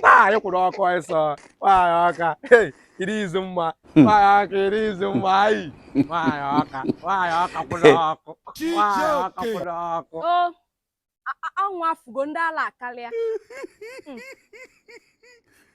nwaanyị kwụrụ ọkụ ịsọ nwaanyị ọka iri izu mma hmm. nwaanyị ọka iri izu mma ayi nwaanyị ọka nwaanyị ọka kwụrụ ọkụ nwaanyị ọka kwụrụ ọkụ anwụ afụgo ndị ala akarịa hmm.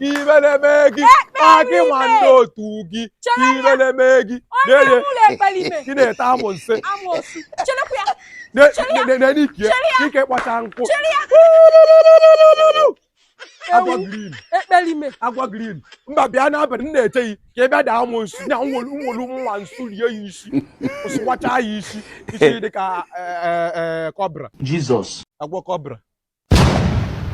ibereme gị akị nwa ndị otu gị ibereme gị ị na-ata amosu n'ike ike kpọcha nkụ agwọ green ekperime agwọ green mba bịa n'abalị m na-eche gị ka ị bịa taa amosu na nwolu nwolu nwa amosu rie ya isi sụwacha ya isi isi dị ka kọbra jizọs agwọ kọbra